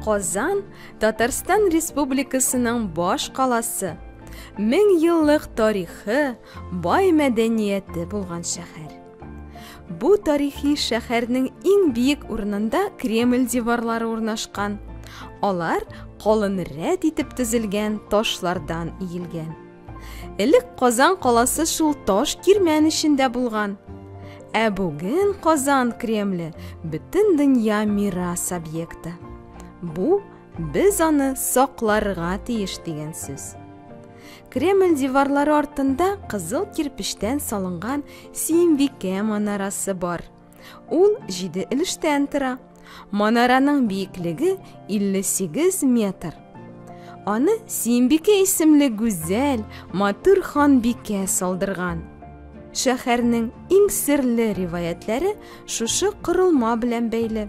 Казан Татарстан Республикасының баш каласы, мең еллык тарихы, бай мәдәнияте булган шәһәр. Бу тарихи шәһәрнең иң биек урынында Кремль диварлары урнашкан. Алар калын рәт итеп төзелгән ташлардан иелгән. Элек Казан каласы шул таш кирмән эчендә булган. Ә бүген Казан Кремле бөтен дөнья мирас объекты. Бу без аны сакларга тиеш дигән сүз. Кремль диварлары артында кызыл кирпечтән салынган Симбикә манарасы бар. Ул җиде өлештән тора. Манараның биеклеге 58 метр. Аны Симбикә исемле гүзәл, матур ханбикә салдырган. Шәһәрнең иң серле риваятләре шушы корылма белән бәйле.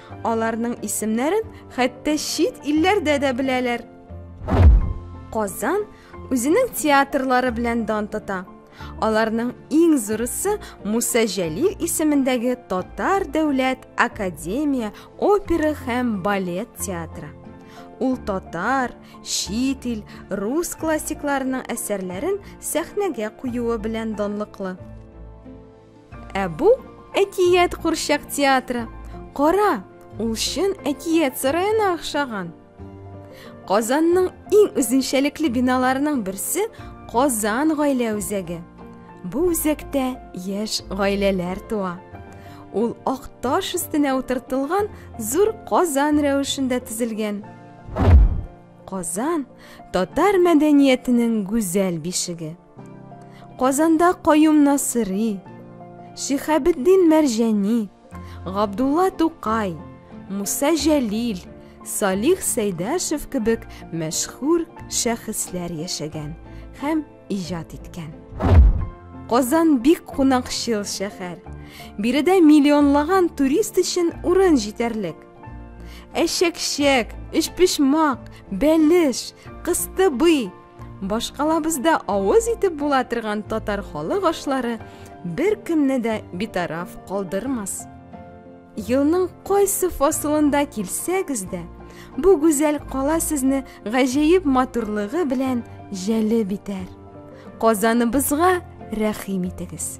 Аларның исемнәрен хәтта чит илләрдә дә беләләр. Казан үзенең театрлары белән дан тота. Аларның иң зурысы Муса Җәлил исемендәге Татар дәүләт академия опера һәм балет театры. Ул татар, чит ил, рус классикларының әсәрләрен сәхнәгә куюы белән данлыклы. Ә бу әкият курчак театры. Кара, ул чын әкият сараена охшаган. Казанның иң үзенчәлекле биналарының берсе Казан гаилә үзәге. Бу үзәктә яшь гаиләләр туа. Ул ак таш өстенә утыртылган зур Казан рәвешендә төзелгән. Казан татар мәдәниятенең гүзәл бишеге. Казанда Каюм Насыри, Шихабетдин Мәрҗәни, Габдулла Тукай, Муса Җәлил, Салих Сәйдәшев кебек мәшһүр шәхесләр яшәгән һәм иҗат иткән. Казан бик кунакчыл шәһәр. Биредә миллионлаган турист өчен урын җитәрлек. Әшәкчәк, өчпочмак, бәлеш, кыстыбый, Башкалабызда авыз итеп була торган татар халык ашлары беркемне дә битараф калдырмас. Елның кайсы фасылында килсәгез дә, бу гүзәл кала сезне гаҗәеп матурлыгы белән җәлеп итәр. Казаныбызга рәхим итегез.